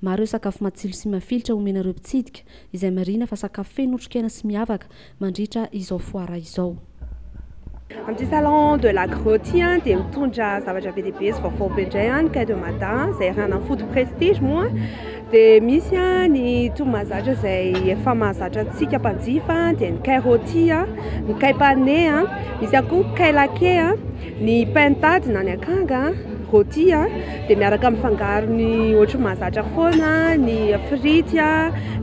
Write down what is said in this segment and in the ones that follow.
Maro ireo sakafo matsilo sy mafilotra omena ireo mpitsidika, izay marihina fa sakafo feno otrikaina sy miavaka, mandritra izao foara izao. Amin'ity salon de l'agro ity dia mitondra zavatra be dia be sy vaovao be indray ny Cai de Mada izay iarahanan'ny Food Prestige moa dia misy ny toa mahazatra izay efa mahazatra antsika mpanjifa dia ny Cai Roti, ny Cai Pane, misy ihany koa ny Cai Laqué. Ny pentade na ny akanga, rôti, dia miaraka amin'ny fangarony ohatry ny mahazatra foana, ny frity,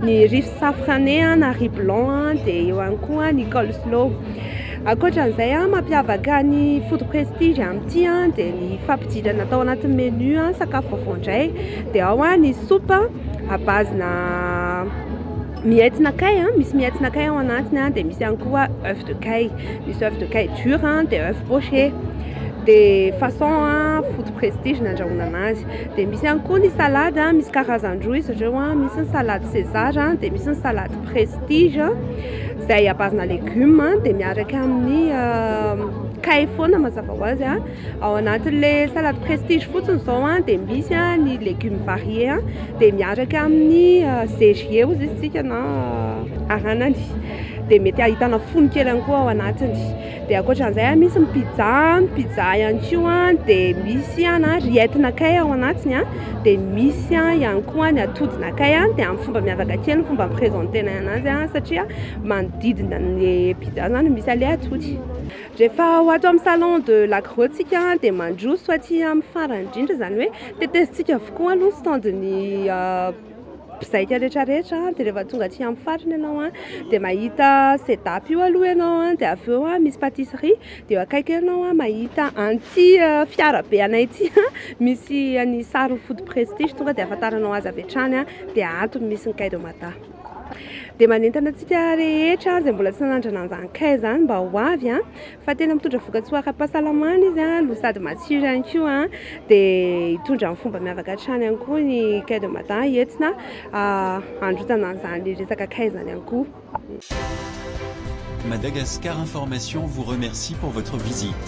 ny riz safrane na riz blanc, dia eo ihany koa ny coleslaw. Ankoatra an'izay, mampiavaka ny food prestige amin'ity dia ny fampidirana tao anatin'ny menu sakafo vaovao indray, dia ao ny soupe à base-na. Miaitsina kay, misy miaitsina kay ao anatiny an, dia misy ihany koa oeuf de kay, misy oeuf de kay dur an, dia oeuf poché, dia façon an food prestige ny andrahoinana azy, dia misy ihany koa ny salade an, misy karazany roa izy ireo an, misy ny salade César an, dia misy ny salade prestige an, izay à base-na légumes dia miaraka amin'ny kay foana mazava ho azy an. Ao anatin'le salade prestige fotsiny zao an dia misy an ny legumes variés an dia miaraka amin'ny zégier hozy izy tsika na aranany dia mety ahitana fony kely any koa ao anatiny dia ankoatran'izay an misy ny pizza an pizza ihany koa an dia misy an an riettina kay ao anatiny an dia misy an ihany koa ny atodina kay an dia amin'ny fomba miavaka kely ny fomba mi-presenter-nay anazy an satria manodidina ny pizza zany misy an'le atody Rehefa ho ato amin'ny salon de l'agro tsika dia mandroso aty amin'ny farany indrindra izany hoe tetezintsika avokoa aloha ny stand ny mpizaika rehetra rehetra dia rehefa tonga aty amin'ny farany ianao dia mahita sedap io aloha ianao dia avy eo misy patisserie dia eo akaiky eo ianao mahita an'ity fiara be anay ity misy ny sarin'ny food prestige tonga dia ahafantaranao azy avy hatrany dia ato no misy ny kay de mada. Dia manentana antsika rehetra izay mbola tsy nanandrana an'izany craie izany mba ho avy fa tena mitondra vokatsoa ara-pahasalamana izy no sady matsiro ihany koa. Dia hitondra amin'ny fomba miavaka hatrany ihany koa ny craie de mada entina handrotsana an'izany resaka craie izany ihany koa. Madagascar information vous remercie pour votre visite.